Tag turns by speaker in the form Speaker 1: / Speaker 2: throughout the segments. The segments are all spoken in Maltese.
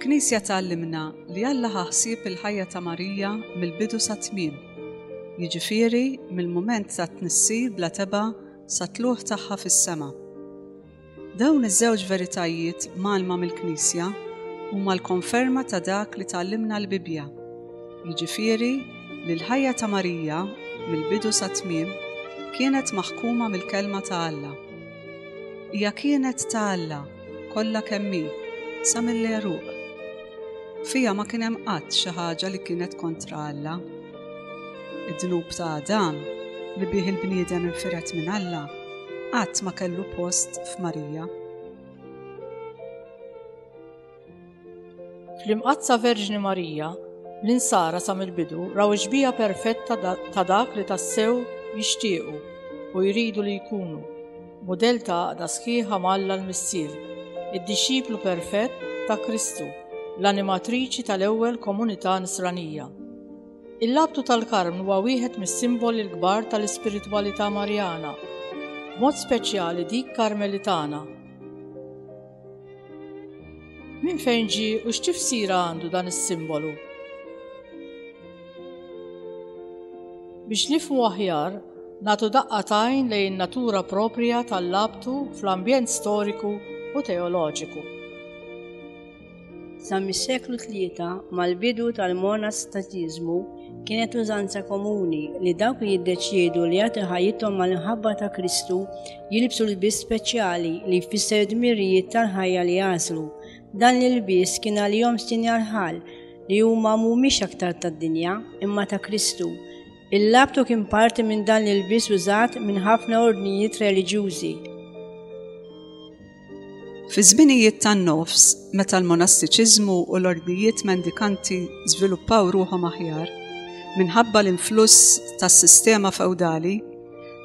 Speaker 1: Il-Knisja tgħallimna li Alla ħaħsib il-ħajja ta' Marija mill-bidu sa tmiem, jiġifieri mill-mument tat-tnissil bla tebgħa sat-tlugħ tagħha fis-sema. Dawn iż-żewġ veritajiet mgħallma mill-Knisja huma l-konferma ta' dak li tgħallimna l-Bibbja, jiġifieri li l-ħajja ta' Marija mill-bidu sat-tmiem kienet maħkuma mill-Kelma ta' Alla. Hija kienet ta' Alla kollha kemm hi, sa mill-għeruq. Fiha ma kien hemm qatt xi ħaġa li kienet kontra Alla. Id-dnub ta' Adam li bih il-bniedem infiret minn Alla qatt ma kellu post f'Marija.
Speaker 2: Fl-Imqaddsa Verġni Marija, l-Insara sa mill-bidu raw ix-xbieha perfetta ta' dak li tassew jixtiequ u jridu li jkunu, mudell ta' għaqda sħiħa ma' Alla l-Missier, id-dixxiplu perfett ta' Kristu, l-animatriċi tal-ewwel komunità Nisranija. Il-labtu tal-Karmnu huwa wieħed mis-simboli l-kbar tal-ispiritwalità Marjana, b'mod speċjali dik Karmelitana. Min fejn ġi u x'tifsira għandu dan is-simbolu? Biex nifmu aħjar, natu daqqa tajn lejn natura proprja tal-labtu fl-ambjent storiku u teoloġiku.
Speaker 3: Sa mis-seklu tlieta mal-bidu tal-monastatiżmu kienet użanza komuni li dawk li jiddeċiedu li jagħti ħajjithom mal-inħabba ta' Kristu Jilibsu l-biss speċjali li jfisser dmirijiet tal-ħajja li jaslu. Dan l-biss kien għalihom sinjal ħal li huma mhumiex aktar tad-dinja imma ta' Kristu. Il-labtu kien parti minn dan l-biss użat minn ħafna ordnijiet reliġjużi.
Speaker 1: Fi żminijiet tan-nofs, meta l-monastiċiżmu u l-ordnijiet mendikanti żviluppaw ruħhom aħjar, minħabba l-influss tas-sistema fewdali,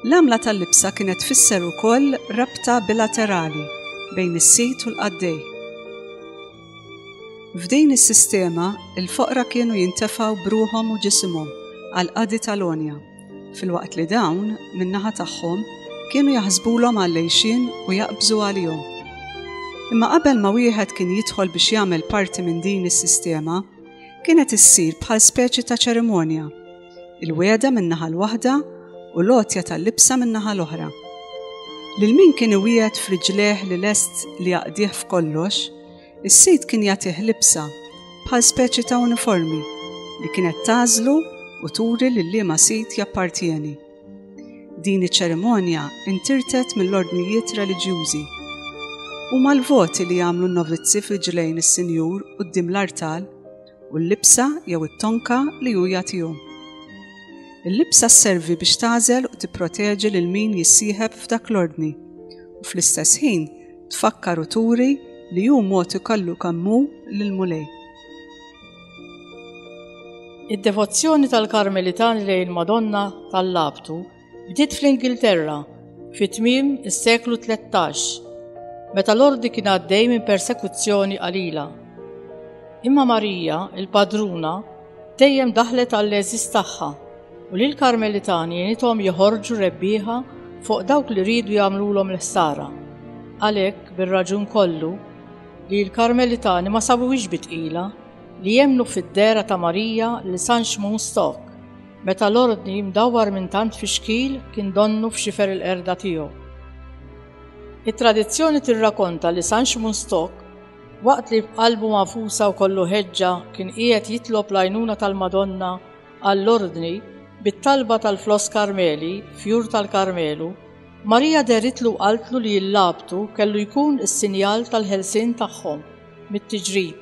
Speaker 1: l-għamla tal-libsa kienet tfisser ukoll rabta bilaterali bejn is-sid u l-qaddej. F'din is-sistema, il-foqra kienu jintefgħu b'ruħhom u ġisimhom għall-qadi tal-għonja. Filwaqt li dawn, min-naħa tagħhom, kienu jaħsbulhom għal-lejxin u jaqbżu għalihom. Imma qabel ma wieħed kien jidħol biex jagħmel parti minn din is-sistema, kienet issir bħal speċi ta' ċerimonja, il-weda min-naħa l-waħda u l-għotja tal-libsa min-naħa l-oħra. Lil min kien iwiegħed friġleħ li lest li jaqdih f'kollox, Is-sid kien jagħtih libsa bħal speċi ta' uniformi li kienet tagħżlu u turi lil liema sid jappartjeni. Din iċ-ċerimonja intirtet mill-ordnijiet reliġjużi. U mal-voti li jagħmlu n-novizzi f'riġlejn is-Sinjur quddiem l-artal u l-libsa jew it-tonka li hu jagħtihom. Il-libsa sservi biex tagħżel u tipproteġi lil min jissieħeb f'dak l-ordni u fl-istess ħin tfakkar u turi li hu mogħti kollu kemm hu lill-Mulej.
Speaker 2: Id-devozzjoni tal-Karmelitani lejn il-Madonna tal-Labtu bdiet fl-Ingilterra fi tmiem is-seklu 13, meta l-ordi kien għaddej minn persekuzzjoni qalila. Imma Marija, il-padruna, Dejjem daħlet għall-għeżież tagħha u li l-Karmelitani jenithom joħorġu rebbieħa fuq dawk li riedu jagħmlulhom l-ħsara. Għalhekk, bir-raġun kollu, li l-Karmelitani ma sabuwix bitqila li jemnu fid-dera ta' Marija li San Xmun Stok meta l-ordni mdawwar minn tant fi xkil kien donnu f'xifer il-qerda tiegħu. It-tradizzjoni tirrakonta li San Xmun Stok Waqt li b'qalbu magħfusa u kollu ħeġġa kien qiegħed jitlob l-għajnuna tal-Madonna għall-Ordni bit-talba tal-floss Karmeli, fjur tal-Karmelu, Marija deritlu u qaltlu li l-labtu kellu jkun is-sinjal tal-ħelsien tagħhom mit-tiġrib.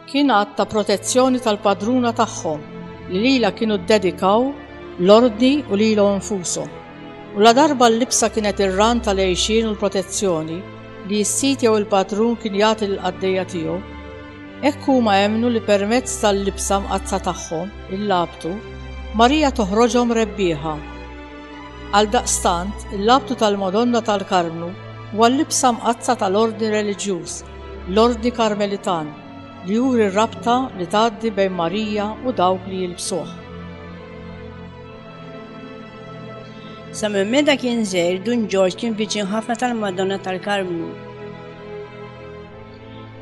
Speaker 2: Kien att ta' protezzjoni tal-padruna tagħhom li lilha kienu ddedikaw l-ordni u lilhom infushom. U ladarba l-libsa kienet ir-ran tal-għixien u l-protezzjoni li s-sid jew il-padrun kien jagħti lill-qaddejja tiegħu, hekk huma emmnu li permezz tal-libsa mqaddsa tagħhom, il-labtu, Marija toħroġhom rebbieħa. Għaldaqstant, il-labtu tal-Madonna tal-Karmnu huwa l-libsa mqaddsa tal-ordni reliġjuż, L-Ordni Karmelitan, li juri r-rabta li tgħaddi bejn Marija u dawk li jilbsuh.
Speaker 3: Sa minn meta kien żgħir, Dun Ġorġ kien viċin ħafna tal-Madonna tal-Karmnu.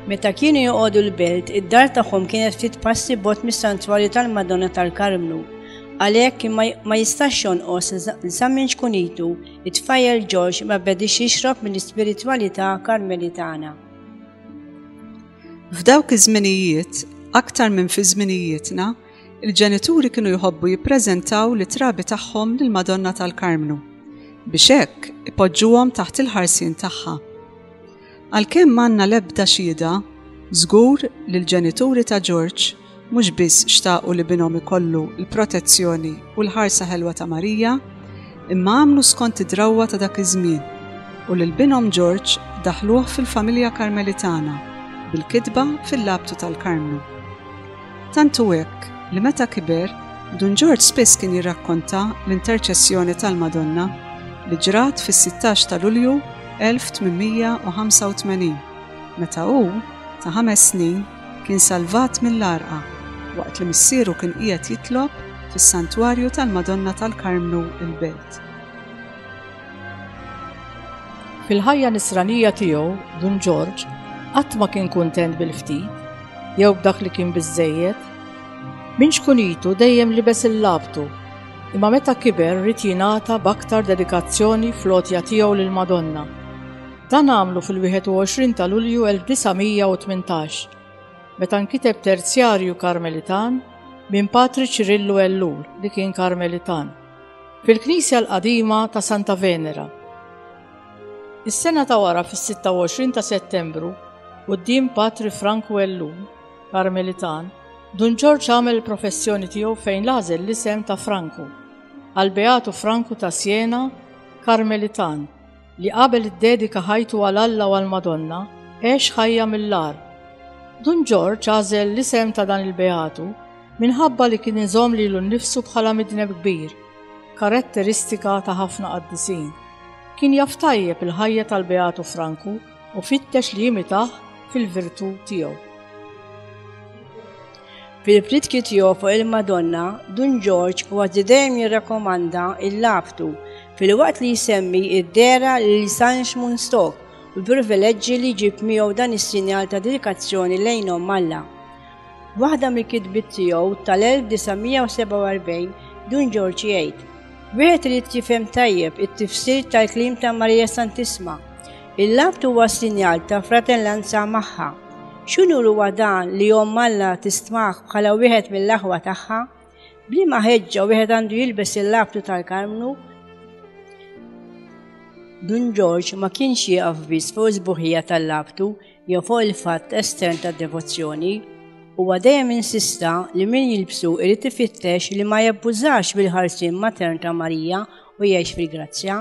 Speaker 3: Meta kienu joqogħdu l-belt, id-dar tagħhom kienet ftit passi bot mis-santwarju tal-Madonna tal-Karmnu. Għalhekk kien ma jistax jonqos sa minn xkunitu It-tfajjel George ma bedix jixrob mill-ispiritwalità Karmelitana.
Speaker 1: F'dawk iż-żminijiet, aktar minn fi żminijietna, il-ġenituri kienu jħobbu jippreżentaw lit-trabi tagħhom lill-Madonna tal-Karmnu, biex hekk ipoġġuhom taħt il-ħarsien tagħha. Għalkemm m'għandna l-ebda xhieda, żgur li l-ġenituri ta' George mhux biss xtaqu li binhom ikollu l-protezzjoni u l-ħarsa ħelwa ta' Marija, imma għamlu skont id-drawwa ta' dak iż-żmien u lil binhom George daħħluh fil-familja Karmelitana bil-kitba fil-labtu tal-Karmnu. Tant hu hekk li meta kiber, Dun Ġorġ spiss kien jirrakkonta l-interċessjoni tal-Madonna li ġrat fis-sittax ta' Lulju 1885, meta hu, ta' ħames snin, kien salvat mill-għarqa waqt li missieru kien qiegħed jitlob fis-Santwarju tal-Madonna tal-Karmnu il-Belt.
Speaker 2: Fil-ħajja nisranija tiegħu, Dun Ġorġ qatt ma kien kuntent bil-ftit jew b'dak li kien biżżejjed. Minn xkunitu dejjem libes il-labtu, imma meta kiber rid jingħata b'aktar dedikazzjoni fl-għotja tiegħu lil Madonna. Dan għamlu fil-21 ta' Lulju 1918, meta nkiteb terzjarju Karmelitan minn Patri Ċirillu Ellul li kien Karmelitan. Fil-Knisja l-Qadima ta' Santa Venera. Is-sena ta' wara fis-26 ta' Settembru, quddiem Patri Frank Wellu, Karmelitan, Dun Ġorġ għamel il-professjoni tiegħu fejn l-għażel l-isem ta' Franku, għal Beatu Franku ta' Siena, Karmelitan, li qabel iddedika ħajtu għal Alla u għall-Madonna, għex ħajja mill-agħar. Dun Ġorġ għażel l-isem ta' dan il-beatu minħabba li kien iżomm lilu nnifsu bħala midneb kbir, karatteristika ta' ħafna qaddisin. Kien jaf tajjeb il-ħajja tal-beatu Franku u fittex li jimitah fil-virtù tiegħu.
Speaker 3: Fil-pritki tiegħu fuq il-Madonna, Dun Ġorġ kważi dejjem jirrakkomanda l-laftu filwaqt li jsemmi id-dehra lil San Xmun Stok u l-privileġġi li jġib miegħu dan is-sinjal ta' dedikazzjoni lejn Omm Alla. Waħda mill-kitbiet tiegħu tal-1947 Dun Ġorġ jgħid, Wieħed irid jifhem tajjeb it-tifsir tal-kliem ta' Marija Santissma Il-Lhud huwa sinjal ta' fratellanza magħha. X'unur huwa dan li Omm Alla tistmah bħala wieħed mill-aħwa tagħha? B'liema ħeġġa wieħed għandu jilbes il-labtu tal-Karmnu? Dun Ġorġ ma kienx jieqaf biss fuq is-sbuħija tal-labtu jew fuq il-fatt estern tad-devozzjoni, huwa dejjem insista li min jilbsu irid ifittex li ma jabbużax bil-ħarsien matern ta' Marija u jgħix fil-grazzja,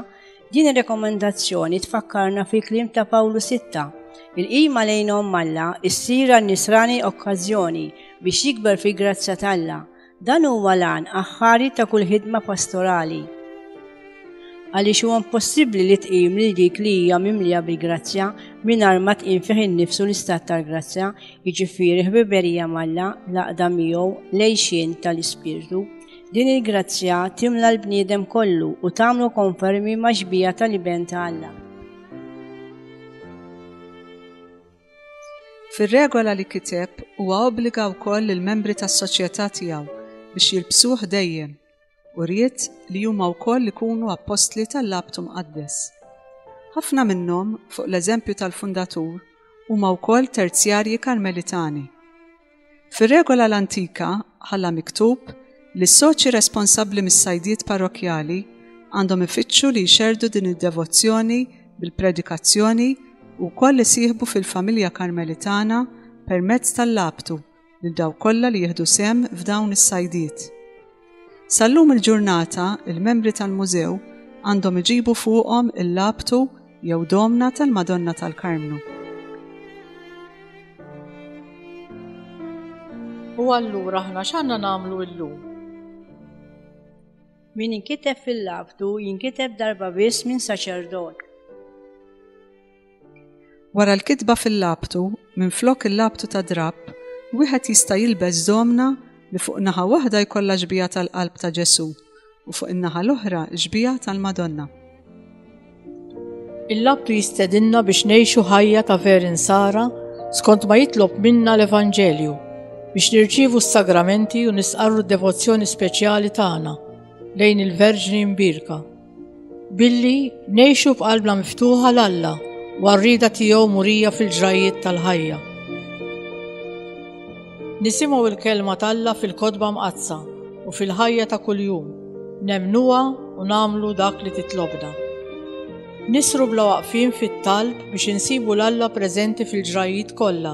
Speaker 3: Din ir-rekomendazzjoni tfakkarna fil-kliem ta' Pawlu Sitta. Il-qima lejnhom malla issir għal nisrani okkażjoni biex jikber fil-grazzja t'Alla. Dan huwa lan aħħari ta' kull ħidma pastorali. Għaliex huwa impossibbli li tqim lil dik li hija mimlija bil-grazzja mingħajr ma tqim fih innifsu l-istat tal-grazzja, jiġifieri ħbiberija malla laqda miegħu lejxin tal-ispirtu. Din il-grazzja timla l-bniedem kollu u tagħmlu konfermi ma' xbija tal-iben ta' Alla.
Speaker 1: Fir-regola li kiteb huwa obbliga wkoll lill-membri tas-soċjetà tiegħu biex jilbsuh dejjem u ried li huma wkoll ikunu appostli tal-labtu mqaddes. Ħafna minnhom, fuq l-eżempju tal-fundatur, huma wkoll terzjarji Karmelitani. Fir-regola l-antika ħalla miktub li s-soċi responsabbli mis-sajdiet parrokkjali għandhom ifittxu li jxerrdu din id-devozzjoni bil-predikazzjoni u wkoll isieħbu fil-familja Karmelitana permezz tal-labtu lil dawk kollha li jieħdu sehem f'dawn is-sajdiet. Sal-lum il-ġurnata, il-membri tal-Mużew għandhom iġibu fuqhom il-labtu jew domna tal-Madonna tal-Karmnu.
Speaker 2: U allura aħna x'għandna nagħmlu llum?
Speaker 3: Min inkiteb fil-labtu jinkiteb darba biss minn saċerdot.
Speaker 1: Wara l-kitba fil-labtu, minflok il-labtu ta' drapp, wieħed jista' jilbes domna li fuq naħa waħda jkollha xbieha tal-qalb ta' Ġesù u fuq in-naħa l-oħra xbieha tal-Madonna.
Speaker 2: Il-labtu jistedinna biex ngħixu ħajja ta' ver insara skont ma jitlob minna l-Evanġelju biex nirċivu s-sagramenti u nisqarru d-devozzjoni speċjali tagħna lejn il-Verġni Mbirka. Billi ngħixu b'qalbna miftuħa l Alla u għarrida tiegħu murija fil-ġrajjiet tal-ħajja. Nisimgħu il-kelma t'Alla fil-kotba mqaddsa u fil-ħajja ta' kuljum, nemnuha u nagħmlu dak li titlobna. Nisru bla waqfin fit-talb biex insibu l-Alla preżenti fil-ġrajjiet kollha